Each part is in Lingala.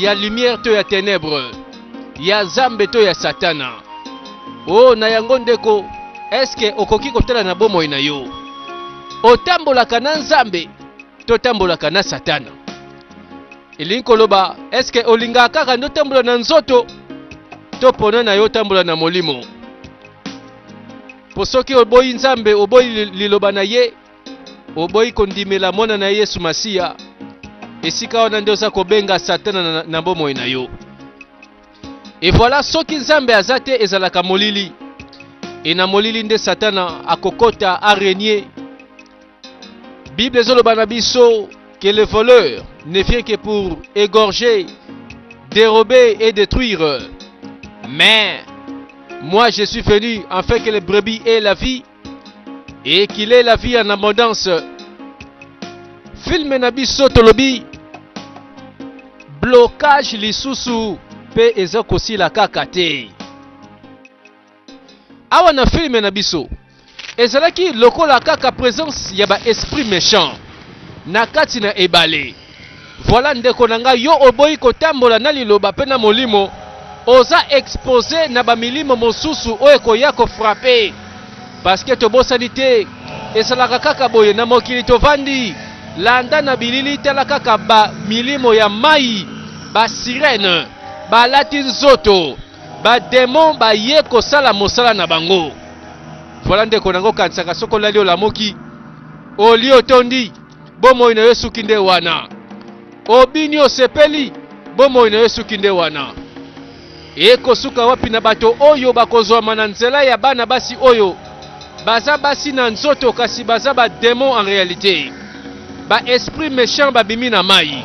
ya lumière to ya tenebre, ya zambe to ya satana. O oh, na yango ndeko, eske okoki kotala na bomoi na yo, otambolaka na nzambe totambolaka na satana elingi koloba eske olingaka kaka nde otambola na nzoto to pona na yo otambola na molimo mpo soki oboyi nzambe oboyi liloba na ye Oboyi kondimela mwana na Yesu Masiya, esika wana nde oza kobenga Satana na, na bomoi na yo. Et voilà, soki Nzambe aza te ezalaka molili. Et na molili nde Satana akokota a régner. Bible ezoloba na biso que le voleur ne vient que pour égorger, dérober et détruire. Mais moi je suis venu afin que les brebis aient la vie et qu'il est la vie en abondance filme na biso tolobi blocage lisusu mpe eza kosila kaka te awa na filme na biso ezalaki lokola kaka presence ya ba esprit méchant na kati na ebale Voilà ndeko na nga yo oboyi kotambola na liloba pe na molimo oza expose na ba milimo mosusu oyo ekoya ko frappe parce que tobosani te esalaka kaka boye na mokili tovandi landa na bilili tala kaka ba milimo ya mayi ba sirene balati nzoto ba demon baye kosala mosala na bango voilà ndeko na ngo kanisaka soki olali olamuki olie otondi bomoi na yo esuki nde wana. Obini osepeli, bomoi na yo esuki nde wana. Ekosuka wapi na bato oyo bakozwama na nzela ya bana basi oyo baza basi na nzoto kasi baza ba demon en realite, ba esprit mechant babimi na mai.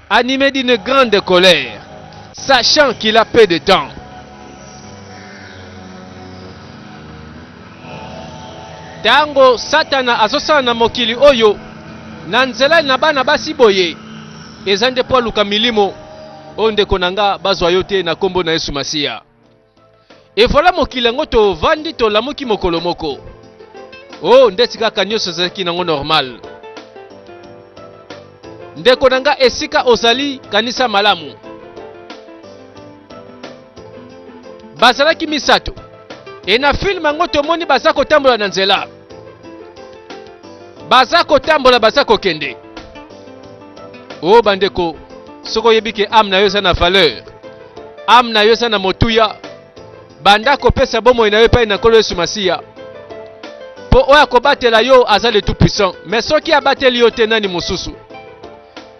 Anime d'une grande colère, sachant qu'il a peu de temps. Tango Satana azosala na mokili oyo na nzela na bana basi boye, eza nde mpo aluka milimo oyo ndeko na nga bazwa yo te na nkombo na Yesu Masiya. Et voilà mokili yango tovandi tolamuki mokolo moko oh ndeti kaka nyonso ezalaki nango normal ndeko na nga esika ozali kanisa malamu bazalaki misato e na filme yango tomoni baza kotambola na nzela baza kotambola baza kokende o oh, bandeko soki oyebi ke ame na yo eza na valeur ame na yo eza na motuya banda kopesa bomoi na yo epai na nkolo yesu masiya mpo oyo akobatela yo aza le tout puissant mais soki abateli yo te nani mosusu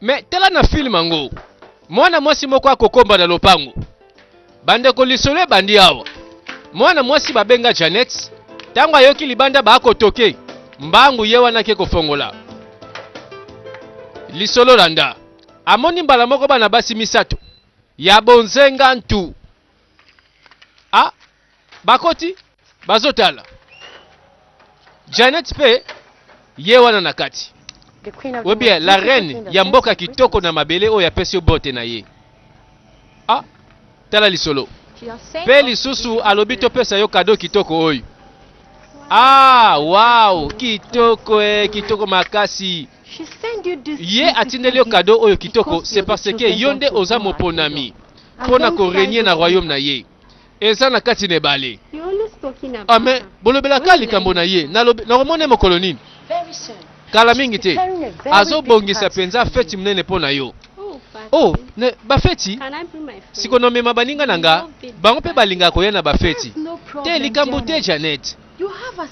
me tala na filme yango mwana mwasi moko akokomba na lopango bandeko lisolo ebandi awa mwana mwasi babenga janet ntango ayoki libanda baakotoke mbangu ye wana ake kofongola lisolo landa amoni mbala moko bana basi misato ya bonzenga ntu Bakoti bazotala Janet pe ye wana na kati. Webia la reine ya mboka kitoko na mabele oyo apesi yo bote na ye. Ah, tala lisolo. Pe lisusu alobi topesa yo kado kitoko oyo. Ah, wow, kitoko eh, kitoko makasi. Ye atindeli yo kado oyo kitoko, c'est parce que yo nde oza moponami mpo na korenye na royaume na ye. Eza na kati na ebale. Ame, bolobelaka likambo na ye. Nalobe, nakomona ye mokolo nini? Kala mingi te. Azobongisa mpenza feti monene mpo na yo. Oh, ne, bafeti? Siko nomema baninga na nga, bango mpe balingaka koya na bafeti. Te, likambo te, Janet.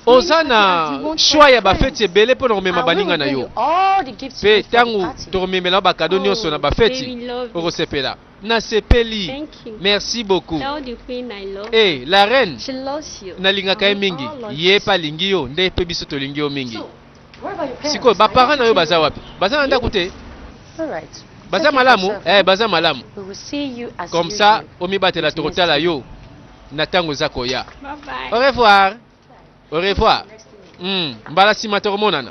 Oza na shwa ya bafeti ebele mpo na komema baninga na yo. Mpe ntango tokomemela yo bakado nyonso na bafeti, okosepela. na sepeli merci beaucoup eh la reine nalingaka ye mingi ye pe alingi yo nde pe biso tolingi yo mingi sikoyo baparent na yo baza wapi baza na ndako te baza malamu eh baza malamu comme ça omibatela tokotala yo na ntango eza koya au revoir Au revoir. Mm, mbala nsima tokomonana.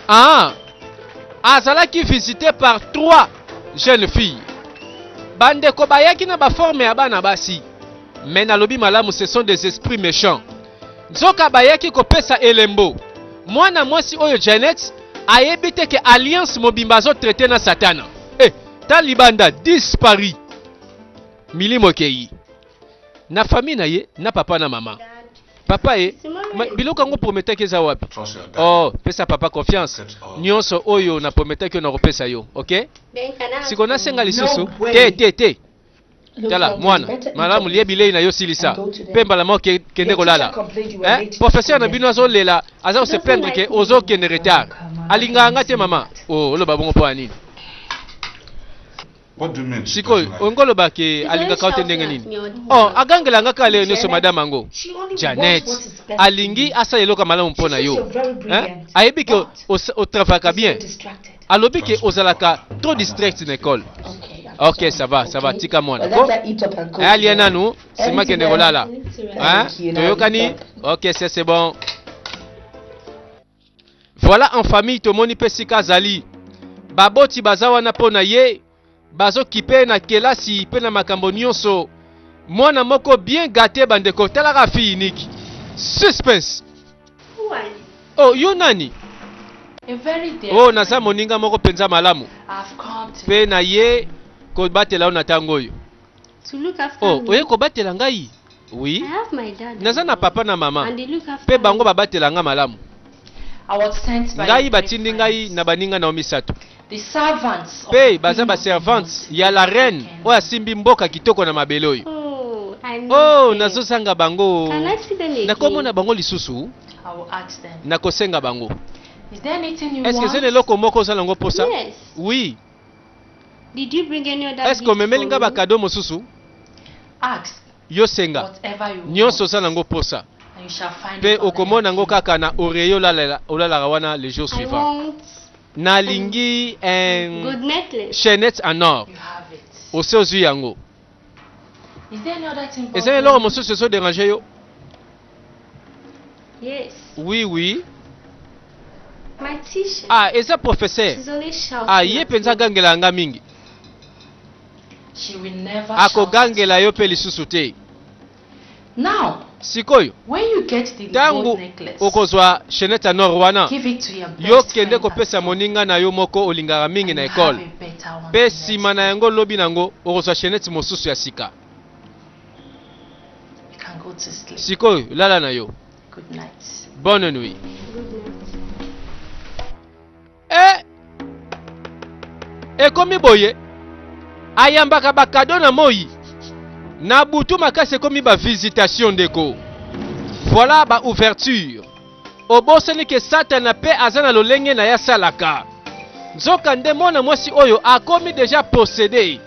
Ah, azalaki visite par trois jeunes filles. Bandeko bayaki na baforme ya bana basi, me nalobi malamu, ce sont des esprits méchants. Nzoka bayaki kopesa elembo. Mwana mwasi oyo Janet ayebi te ke alliance mobimba azotraite na Satana. Eh, ta libanda dispari. Milimo ekei. na famille na ye na papa na mama papa ye biloko yango prometaki eza wapi oh pesa papa confiance nyonso oyo na prometaki oyo nakopesa yo ok siko nasenga lisusu te te te tala mwana malamu lie bilei na yo silisa mpe mbala moko kende kolala eh, professeur na bino azolela aza kose plaindre ke ozokende retard alingaka nga te mama oh, oloba bongo mpo ya nini sikoyo olingi oloba ke alingaka yo te ndenge nini oh agangela nga kaka lelo nyonso madame yango janet alingi asala eloko ya malamu mpo na yo Hein? ayebi ke os- otravaka bien alobi ke ozalaka trop distract na ekole ok ça va ça va tika mwana ko Eh, alia nanu sima kende kolala Hein? toyokani ok c'est c'est bon Voilà en famille tomoni pe sika azali. Baboti baza wana po na ye, bazo kipe na kelasi pe na makambo nionso. Mwana moko bien gate bandeko tala kaka fille unique. Suspense. Who are you? Oh yo nani? A very dear Oh naza friend. moninga moko penza malamu I've come to pe na ye kobatela yo na tango oyo. Oh, oye kobatela ngai? Oui. Naza na papa na mama, pe bango babatela nga malamu. Ngai batindi ngai na baninga na yo misato, pe baza ba servantes ya la reine oyo asimbi mboka kitoko na mabele oyo. Oh, nazozanga bango. Nakomona bango lisusu? Nakosenga bango. Est-ce que eza na eloko moko oza na yango posa? Oui. Did you bring any other Est-ce que gift omemeli for nga ba me? cadeaux mosusu? Ask Yo senga whatever you nyonso, want, ozala na yango posa, and you shall find it mpe on my okomona yango pillow. kaka na oreiller olalala- olalaka wana le jour I suivant. want Nalingi un good necklace. chainette en or. You have it. Osi ozwi yango. eza eloko mosusu ezo derange yo yes. oui oui Matisha. ah eza professeur ah ye mpenza agangela yanga mingi akogangela yo mpe lisusu te Sikoyo, ntango okozwa chenete ya nord wana, yo kende kopesa moninga na yo moko olingaka mingi na ekole, mpe nsima na yango lobi na yango okozwa chenete mosusu ya sika. Sikoyo lala na yo. Bonne nuit. e ekomi boye ayambaka bakado na moi na butu makasi ekomi ba visitation ndeko voilà ba ouverture obosani ke satana mpe aza na lolenge na ye asalaka nzoka nde mwana mwasi oyo akomi deja posede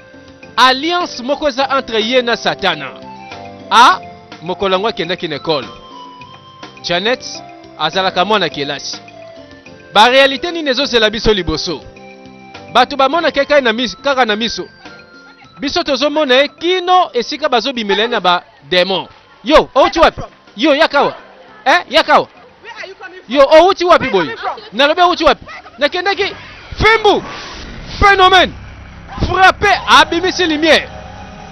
alliance moko eza entre ye na satana a ah, mokolo yango akendaki na ekole Janet azalaka mwana kelasi. Ba realite nini ezozela biso liboso? Bato bamonaka ye kaka na miso, kaka na miso. Biso tozomona ye kino esika bazobimela ye na ba demon. Yo outi wapi? Yo yakawa eh, yakawa yo outi wapi boye? Nalobi outi wapi? Nakendaki Fimbu phenomène frappe abimisi lumière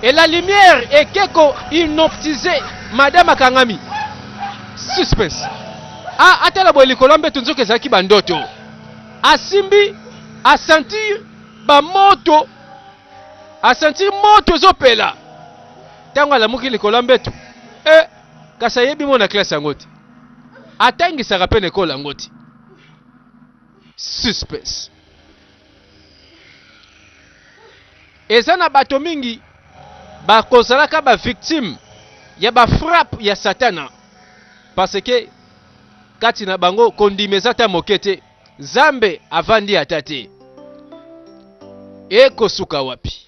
et la lumière eke ko hypnotiser madame akangami suspense a atala boye likolo ya mbeto nzoka ezalaki ba ndoto asimbi a sentir ba moto a sentir moto ezopela ntango alamuki likolo ya mbeto e eh, kasi ayebi mona classe yango te atangisaka mpe na ekolo yango te suspects. Eza na bato mingi bakozalaka ba victimes ya ba frappe ya satana parce que kati na bango kondima eza ta moke te zambe avandi ata te ekosuka wapi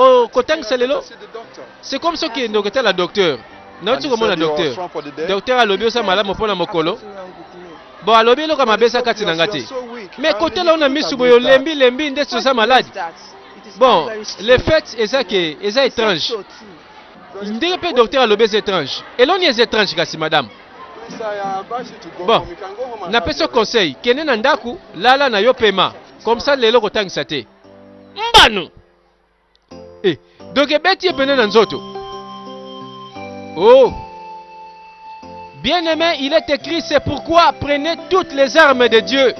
Oh, kotangisa lelo c'est comme soki ende okotala docteur nauti komona docteur docteur alobi oza malamu mpo na mokolo bo alobi eloko mabe eza kati na nga te mais kotala ona misu boye olembi lembi ndeti oza malade bon le fait eza ke eza étrange ndenge mpe docteur alobi eza étrange eloni eza étrange kasi madame bon napesi yo conseil kende na ndako lala na yo pema comme ça lelo kotangisa te mbano e eh, donk ebeti ye pene na nzoto oh bien aimé il est écrit c'est pourquoi prenez toutes les armes de dieu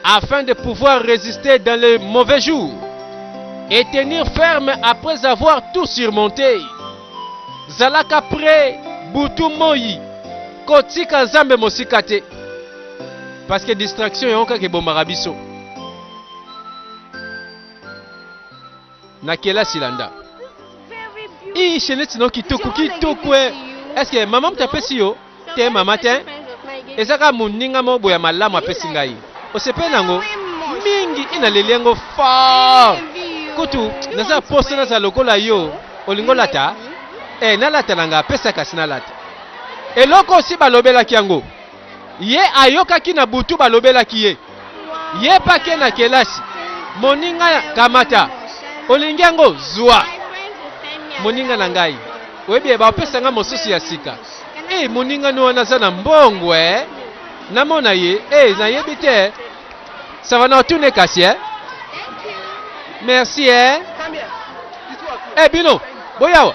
afin de pouvoir résister dans les mauvais jours et tenir ferme après avoir tout surmonté zalaka près butu moi kotika nzambe mosika te parce que distraction yango kaka ebomaka biso na kelasi landa ii sheneti no kitoko kitoko e eske mama moto apesi yo te mama te eza kaka moninga moko boye ya malamu apesi ngai osepeli na yango mingi i naleli yango fort kutu naza poso naza lokola yo olingi olata e nalata na ngai apesa kasi nalata eloko osi balobelaki yango ye ayokaki na butu balobelaki ye ye pake na kelasi moninga ya kamata olingi yango zwa moninga na ngai oyebi baopesa ngai mosusu ya sika e moninga ni wana aza na mbongo e eh? namona ye e eh, nayebi te savana otune kasi e merci e e bino boyawa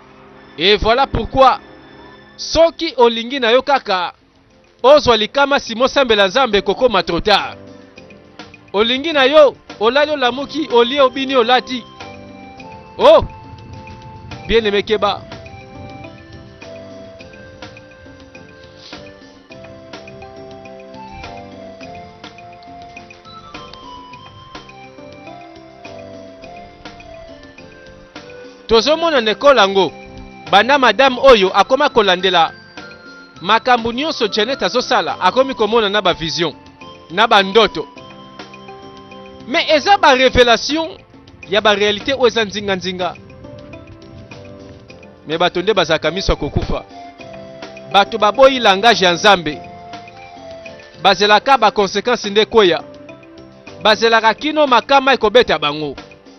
Et voilà pourquoi soki olingi na yo kaka ozwa likama simo sambela nzambe ekokoma trop tard olingi na yo olali olamuki olie obini olati oh bien aime keba Tozomona na ekolo yango banda madame oyo akoma kolandela makambo nionso Janet azosala akomi komona na ba vision na ba ndoto mais eza ba revelation ya ba realite oyo eza nzinga nzinga mais bato nde bazalaka miso ya kokufa bato baboyi langage ya Nzambe bazelaka ba consequences nde kweya bazelaka kino makama ekobeta bango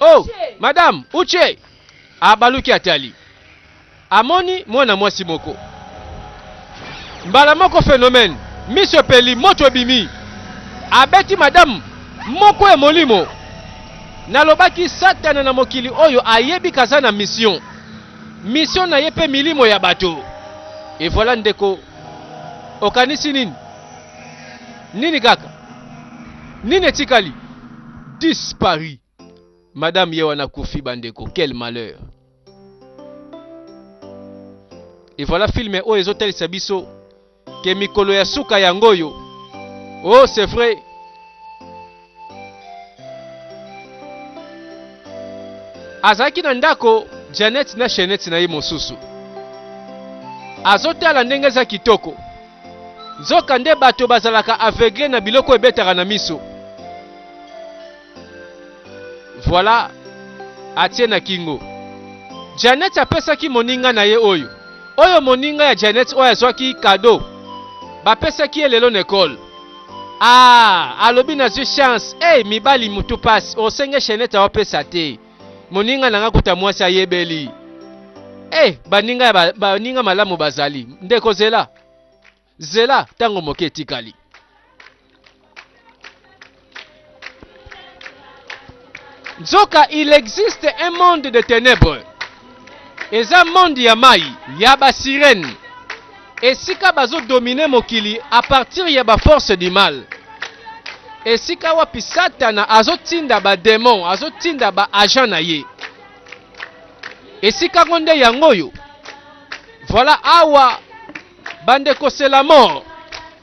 Oh, madame Uche abaluki atali, amoni mwana mwasi moko. Mbala moko phenomène, miso epeli, moto ebimi, abeti madame moko ya molimo. Nalobaki satana na mokili oyo ayebi kaza na mission, mission na ye pe milimo ya bato. Et voilà ndeko, okanisi nini? Nini kaka? Nini etikali? Dispari. Madame ye wana kufi bandeko, quel malheur. Et voilà filme oyo ezotalisa biso ke mikolo ya suka yango oyo. Oh, c'est vrai. Azalaki na ndako Janet na chainette na ye mosusu. Azotala ndenge eza kitoko. Nzoka nde bato bazalaka aveugle na biloko ebetaka na miso. Voilà, atie na kingo. Janet apesaki moninga na ye oyo. Oyo moninga ya Janet oyo azwaki kado. Bapesaki ye lelo na ekole. Aah alobi nazwi chance eeh mibali mutu pasi osenge chainette aopesa te moninga nanga kuta mwasi ayebeli eh baninga ya ba, baninga malamu bazali ndeko zela zela tango moke etikali nzoka il existe un monde de ténèbres eza monde ya mai ya ba sirène esika bazodomine mokili à partir ya ba force du mal esika wapi satana azotinda bademon azotinda ba agent na ye esika ngo nde yango oyo voilà awa bandeko c'est la mort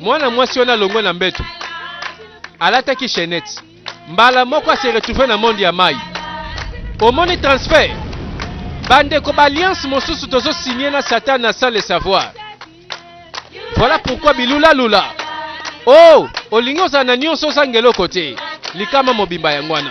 Mwana mwasi wana alongwe na mbeto, alataki chaînette, mbala moko a se retrouver na monde ya mayi. Omoni transfert? Bandeko, ba alliance mosusu tozo signer na Satana sans le savoir. Voilà pourquoi bilula lula. Oh, olingi ozala na nyonso ozanga eloko te. Likama mobimba yango wana.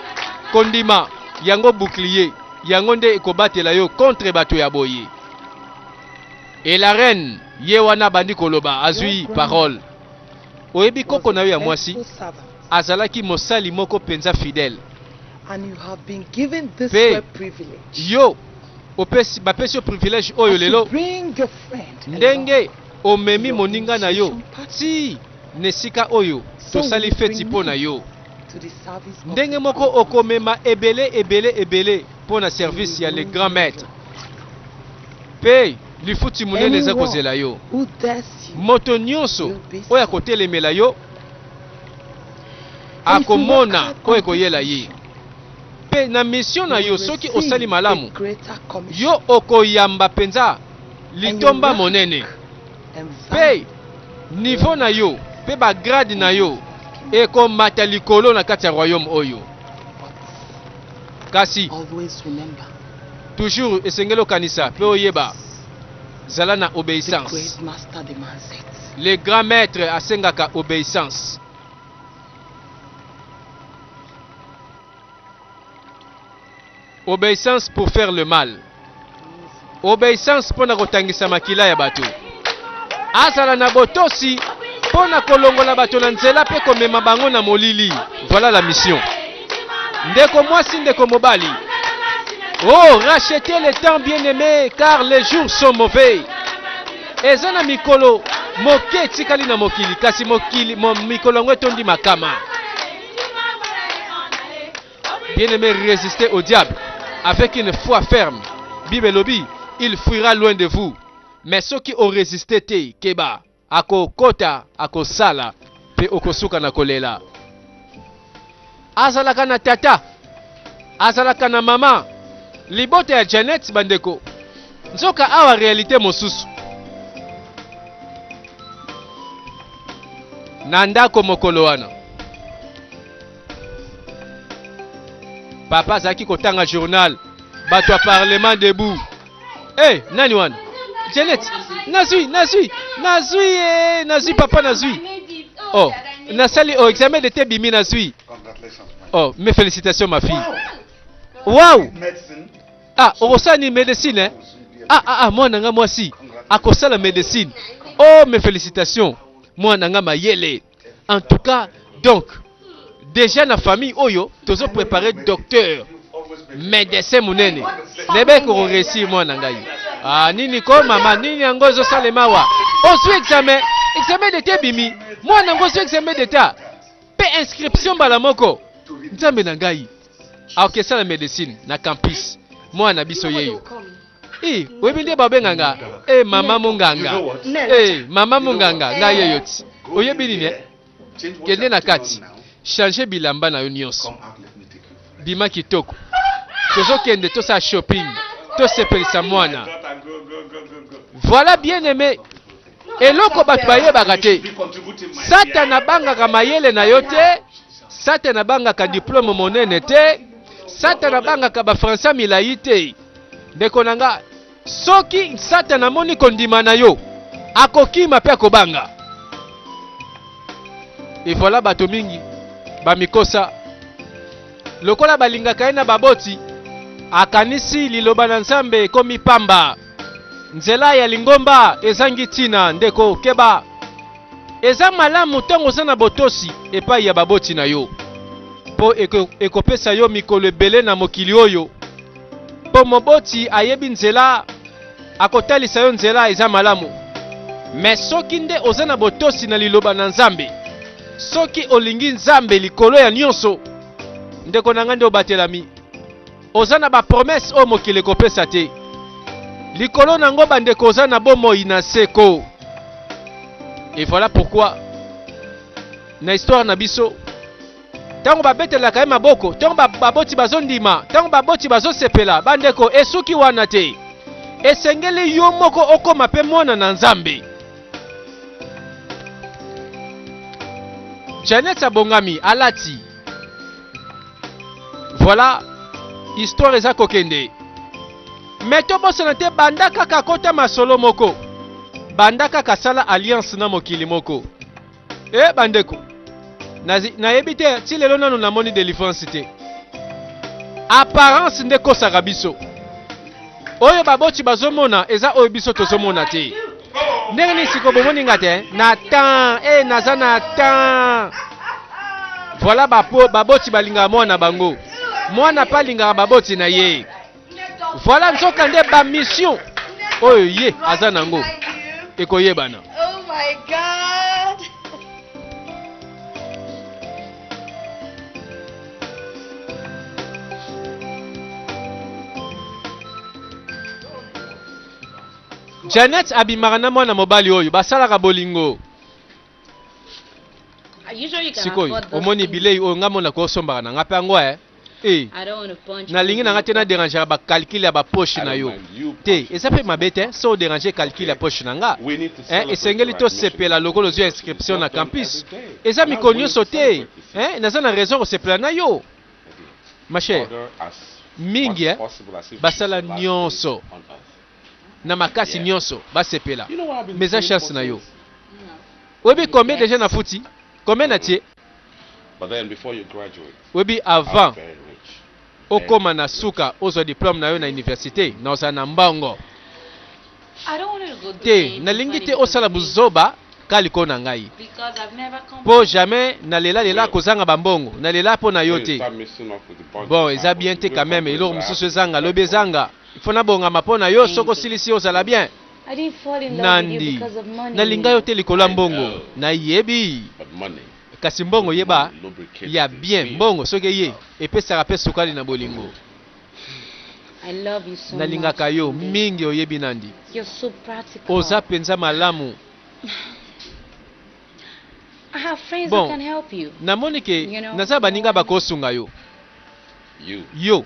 Kondima yango bouclier yango nde ekobatela yo contre bato ya boye. Et la reine ye wana abandi koloba azui parole. Oyebi koko na yo ya mwasi azalaki mosali moko mpenza fidèle. Mpe yo opesi, bapesi yo privilège oyo lelo ndenge omemi moninga na yo ti na esika oyo tosali feti mpo na yo. Ndenge moko okomema ebele ebele ebele mpo na service ya le grand maître. Mpe lifuti monene eza kozela yo. Moto nyonso oyo akotelemela yo akomona oyo ekoyela ye. Mpe na misio na yo, soki osali malamu, yo okoyamba mpenza litomba monene. mpe nivo na yo mpe bagrade na yo ekomata likolo na kati ya royaume oyo. Kasi toujours esengeli okanisa mpe oyeba, zala na obeissance. Le grand maître asengaka obeissance. Obeissance pour faire le mal. Obeissance pona kotangisa makila ya bato. Azala na botosi pona kolongola bato na nzela pe komema bango na molili. Voilà la mission. Ndeko mwasi, ndeko mobali. Oh, rachetez le temps bien aimé car les jours sont mauvais. Eza na mikolo moke etikali na mokili kasi mokili mo, mikolo yango etondi makama. Bien aimé, résistez au diable avec une foi ferme. Bible elobi, il fuira loin de vous. Mais ceux qui ont résisté te, keba, ako kota, ako sala, pe okosuka na kolela. Azalaka na tata, azalaka na mama, libota ya Janet bandeko. Nzoka awa réalité mosusu. Na ndako mokolo wana. papa azalaki kotanga journal bato ya parlement debout e hey, nani wana janet nazwi nazwi nazwi e nazwi papa nazwi o oh, nasali o oh, examen de te bimi nazwi o oh, mes félicitations ma fille wow ah okosala nini médecine eh? ah ah ah mwana nga mwasi akosala médecine oh mes félicitations mwana nga mayele en tout cas donc déjà na famille oyo tozo préparer docteur medecin monene nayebaki kokoresir mwana ngai ah, nini ko mama nini yango ezosalema wa ozwi examen examen d'etat ebimi mwana yango ozwi examen d'etat mpe inscription mbala moko nzambe na ngai aokesala medecine na campus mwana na biso yeyo Eh, oyebi nde babenga nga eh, mama monganga eh, mama monganga nga ye yo ti oyebi nini eh? kende na kati change bilamba na yo nyonso bima kitoko tozokende tosala shopping tosepelisa mwana voilà bien aimé Eloko bato bayebaka te, Satana abangaka mayele na yo te, Satana abangaka diplome monene te, Satana abangaka bafransa milai te. Ndeko na nga, soki Satana amoni kondima na yo, akokima mpe akobanga. Evoila bato mingi bamikosa lokola balingaka ye na baboti, akanisi liloba na Nzambe ekomi pamba. Nzela ya lingomba ezangi ntina, ndeko. Keba! Eza malamu ntango oza na botosi epai ya baboti na yo, mpo eko, ekopesa yo mikolo ebele na mokili oyo, mpo moboti ayebi nzela, akotalisa yo nzela. Eza malamu. Me soki nde oza na botosi na Liloba na Nzambe, soki olingi Nzambe likolo ya nyonso, ndeko na ngai, nde obatelami. Oza na ba promesse oyo mokili ekopesa te likolo na yango bandeko, oza na bomoi na seko. Et voilà pourquoi na histoire na biso ntango babetelaka ye maboko, ntango baboti bazondima, ntango baboti bazosepela, bandeko, esuki wana te. Esengeli yo moko okoma mpe mwana na Nzambe. Janet abongami, alati Voilà, histoire eza kokende. Mais tobosana te banda kaka kota masolo moko. Banda kaka sala alliance na mokili moko. Eh bandeko. Nayebi te ti lelo nanu namoni delivrance te. Apparence nde kosaka biso. Oyo baboti bazomona eza oyo biso tozomona te. Ndenge nini siko bomoni nga te na temps e eh, naza na temps. Voilà bapo baboti balingaka mwana bango. Mwana pa alingaka baboti na ye. Voilà nzoka nde ba mission oyo ye aza nango ekoyebana. Oh my God. Janet abimaka na mwana mobali oyo basalaka bolingo. Sikoyo omoni bilei oyo nga mona ko osombaka na nga pe yango eh. Eh. Nalingi na nga te na derangera ba calcul ya ba poche na yo. Te, eza pe mabe te eh, so deranger calcul ya poche na nga. Eh, esengeli tosepela lokola ozwi inscription na campus. Eza mikolo nyonso te. Hein naza na raison ya kosepela na yo ma chère. Mingi hein basala nionso na makasi nionso basepela mais eza chance na yo. Oyebi combien dejà nafuti? Combien natie? Oyebi avant okoma na suka ozwa diplome na yo na universite na ozala na mbongo te. Nalingi te osala buzoba ka likolo na ngai po jamais na lela lela kozanga ba mbongo na lela po na yo te. Bon eza bien te quand meme eloko mususu ezanga lobi ezanga il faut na bongama po na yo soki osilisi ozala bien. Nandy nalinga yo te likolo ya mbongo na yebi. Kasi mbongo yeba ya bien mbongo soki eye epesaka pe sukali na bolingo na lingaka yo mingi oyebi nandi oza penza malamu bon na moni ke naza baninga bako sunga yo yo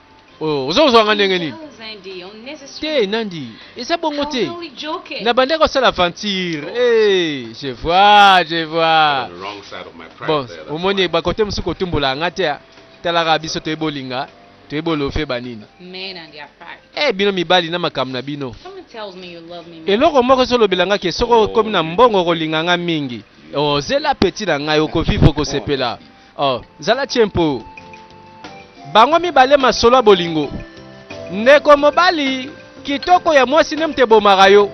Oh, oza kozwa nga ndenge nini? Te, Nandi, eza bongo te. Nabandaki kosala aventure. Oh. Eh, je vois, je vois. Bon, omoni bakote mosusu kotumbola nga te. Ah. Talaka biso toye bolinga, toye bolofe banini. Eh, bino mibali na makambo na bino. Eloko moko ezolobela nga ke soko okomi na mbongo okolinga nga mingi. Ozela oh, peti na ngai, okovivre okosepela. Oh, zala tshempo. Bango mibale masolo ya bolingo. Ndeko mobali, kitoko ya mwasi nde moto ebomaka yo.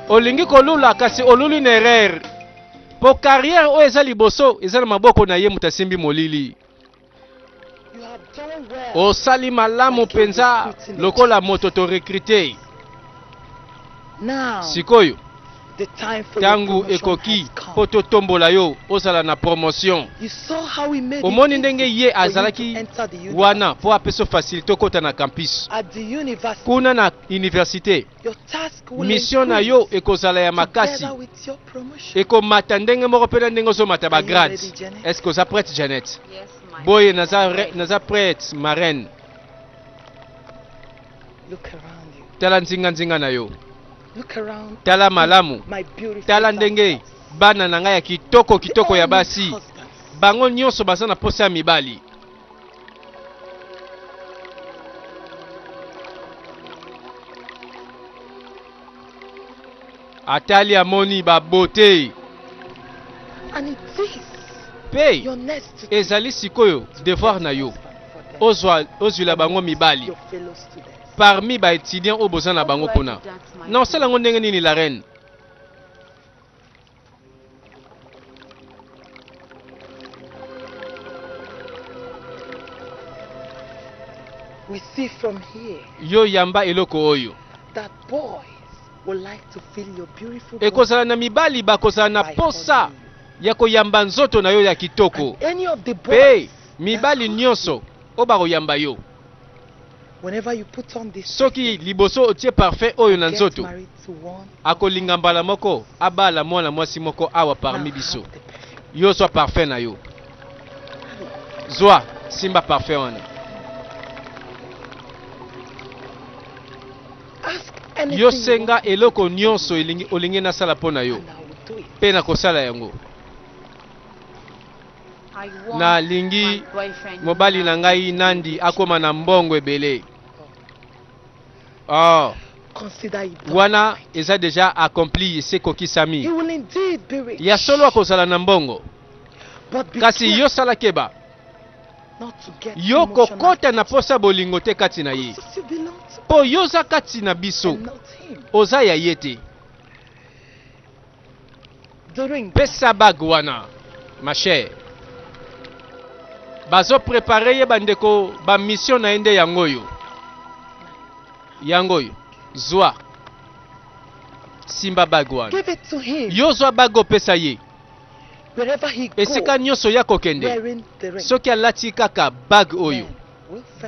Olingi kolula kasi oluli na erreur. Po carrière oyo eza liboso eza na maboko na ye moto asimbi molili. Osali malamu mpenza lokola moto to recruter. Sikoyo Ntango ekoki mpo totombola yo ozala na promotion. Omoni ndenge ye azalaki wana mpo apesa fasilite okota na campus. Kuna na universite, mission na yo ekozala ya makasi, ekomata ndenge moko mpe na ndenge ozomata bagrade. Est-ce que oza prête, Janet? Boye naza, naza prête, marraine. Tala nzinga nzinga na yo. Tala malamu, tala ndenge bana na ngai ya kitoko kitoko ya basi, bango nyonso baza na posa ya mibali. Atali amoni ba beaute pe ezali sikoyo devoir na yo ozwila bango mibali. parmi ba etudiants oyo boza na bango kuna na osala yango ndenge nini la reine We see from here. yo yamba eloko oyo that boys will like to feel your beautiful ekozala na mibali bakozala na posa ya koyamba nzoto na yo ya kitoko mpe mibali nyonso oyo bakoyamba yo Soki liboso otie parfum oyo na nzoto, akolinga mbala moko abala mwana mwasi moko awa parmi biso. Yo zwa parfum na yo. Zwa, simba parfum wana. Yo senga eloko nyonso olingi nasala mpo na yo, mpe nakosala yango. na lingi mobali na ngai Nandi akoma na mbongo ebele. Oh. Wana eza deja accompli se kokisami. Ya solo akozala na mbongo. Kasi yo sala keba. Yo kokota na posa bolingo te kati na ye. Po yo oza kati na biso. Oza ya ye te. Pesa bague wana ma chère. Bazo preparer ye bandeko ba mission na ye nde yango oyo. Yango oyo. Zwa. Simba bague wana. Yo zwa bague opesa ye. Esika nyonso ya kokende soki alati kaka bague oyo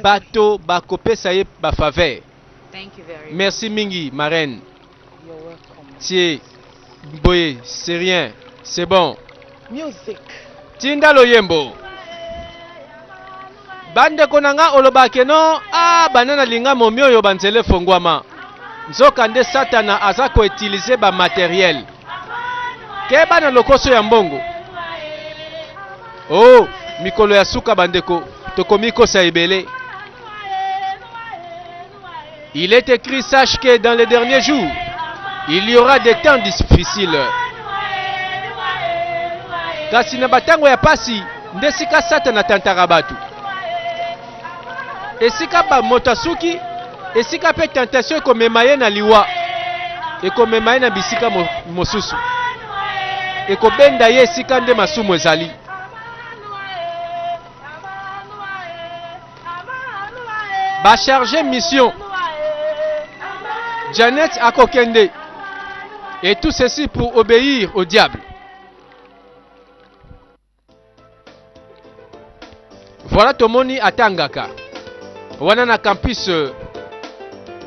bato bakopesa ye bafaveur. Merci mingi marraine. Tsie boye c'est rien, c'est bon. Music. Tinda loyembo. Bandeko na nga oloba ke no, ah bana na linga momi oyo banzela efongwama. Nzoka nde Satana aza ko utiliser ba matériel. Keba na lokoso ya mbongo. Oh, mikolo ya suka bandeko, tokomi kosa ebele. Il est écrit, sache que dans les derniers jours, il y aura des temps difficiles. kasi na batango ya pasi nde esika satana atantaka bato esika moto asuki esika mpe tentation ekomema ye na liwa ekomema ye na bisika mosusu ekobenda ye esika nde masumu ezali ba charge mission Janet akokende et tout ceci pour obéir au diable voilà tomoni atangaka wana na campus euh,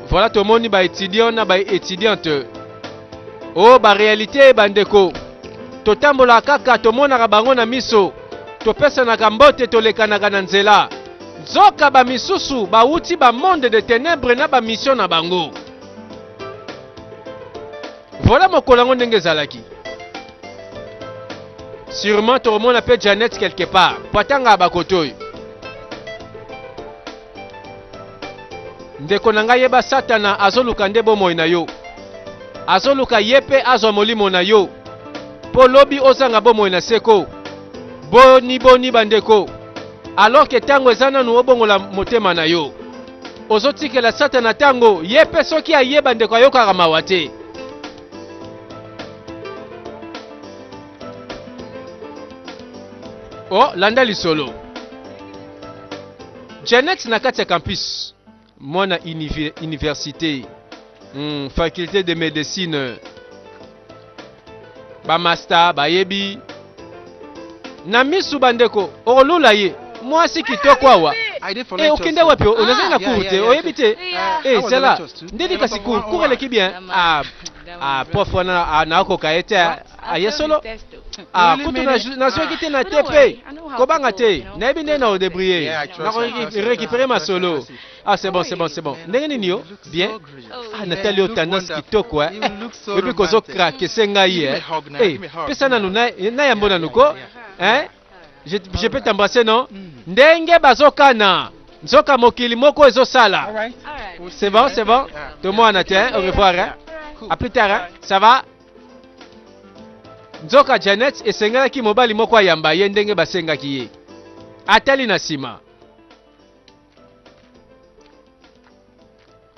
voilà tomoni ba étudiants na ba étudiantes o oh, ba réalité bandeko totambolaka kaka tomonaka bango na miso Topesanaka mbote, tolekanaka na nzela, nzoka ba misusu bawuti ba monde de tenèbres na ba mission na bango. Voilà mokolo yango ndenge ezalaki. Sûrement tokomona pe Janet quelque part, po atangaka ba kote oyo. Ndeko na ngai yeba satana azoluka nde bomoi na yo. Azoluka ye mpe azwa molimo na yo mpo lobi ozanga bomoi na seko. Boni boni bandeko, alors que tango eza nanu obongola motema na yo. Ozotikela satana tango, ye mpe soki aye bandeko ayokaka mawa te. Oh, landa lisolo. Janet na kati ya campus mwana université mm, faculté de médecine bamasta bayebi na misu bandeko okolula ye mwasi kitoko awa eh, okende wapi ah, onazali na cour te oyebi te eh, zala ndeni kasi cour eleki bien ah, ah, prof wana nakoka ye te aye solo Ah, really kutu nazwaki te na te mpe kobanga te nayebi ndenge na odebriye nakorekipere masolo ah c'est bon c'est bon c'est bon ndenge nini yo bien ah natali yo tendance kitoko e oyebi kozokrake se ngai e eh, pesa nanu nayambo nanu ko eh? je, je peux t'embrasser non mm. ndenge bazokana nzoka mokili moko ezosala c'est bon c'est bon tomwana te au revoir hein? à plus tard hein? ça va Nzoka Janet esengelaki mobali moko ayamba ye ndenge basengaki ye. Atali na sima.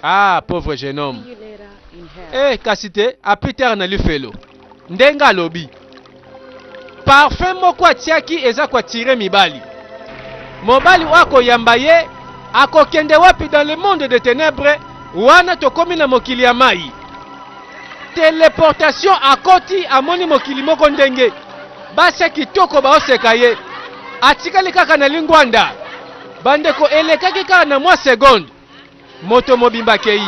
Ah, pauvre jeune homme. Eh, kasi te, a plus tard na lifelo. Ndenge alobi. Parfum moko atiaki eza ko attire mibali. Mobali oyo akoyamba ye akokende wapi dans le monde de tenèbres wana tokomi na mokili ya mayi. Teleportation akoti amoni mokili moko ndenge basi ya kitoko baoseka ye atikali kaka na lingwanda. Bandeko elekaki kaka na mwa seconde. Moto mobimba akei.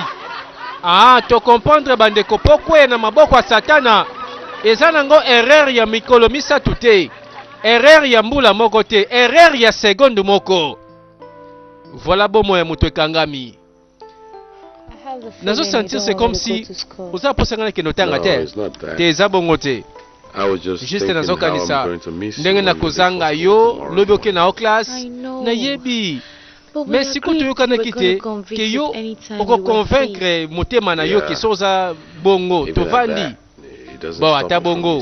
Ah, to comprendre ba ndeko po kweya na maboko ya satana eza nango erreur ya mikolo misato te. Erreur ya mbula moko te, erreur ya seconde moko. Voilà bomo ya moto ekangami. Nazo sentir c'est comme si oza posa ngana kendo tanga te. Te eza bongo te. juste nazokanisa ndenge nakozanga yo lobi oke na o classe nayebi mais sikoyo toyokanaki te ke yo okoconvaincre motema na yo ke so oza bongo tovandi bon ata bongo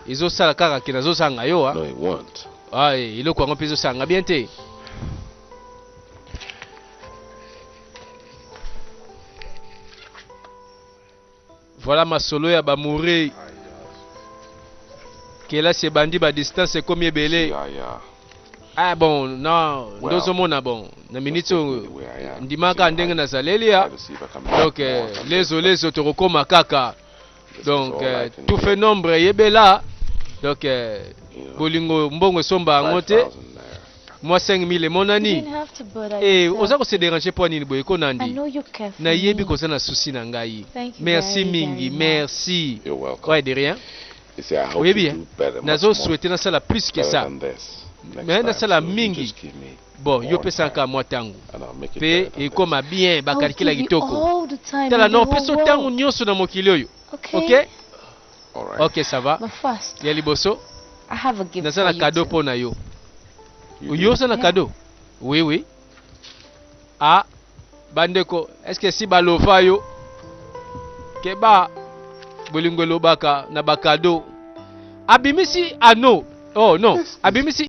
ezosala kaka ke nazozanga yo a ah, eh, eloko yango mpe ezosala nga bien te Voilà masolo ya ba mure kelasi ebandi ba distance ekomi ebele ah bon na ndozo mona bon na minute oyo ndimaka ndenge nazaleli ya donc euh, lezo lezo tokokoma kaka donc euh, tout fait nombre yebela donc euh, bolingo mbongo esomba yango te Mwa 5000 emonani? Ee, oza ko se deranger pwa nini boye ko Nandy? Na yebi ke oza na souci na ngai. Merci mingi, merci. Ouais, de rien. Oyebi hein, nazo souhaiter na sala plus que ça. Mais na sala mingi. Bon, yo pesa nka mwa tango. Pe ekoma bien, ba calcula kitoko. Tala, na opesa yo tango nionso na mokili oyo. Okay? Ok ça va. Ya liboso naza na cadeau mpo na yo. Yo oza na cadeau? Oui oui. Ah bandeko, est-ce que si balova yo keba bolingo elobaka na bakado abimisi ano oh non abimisi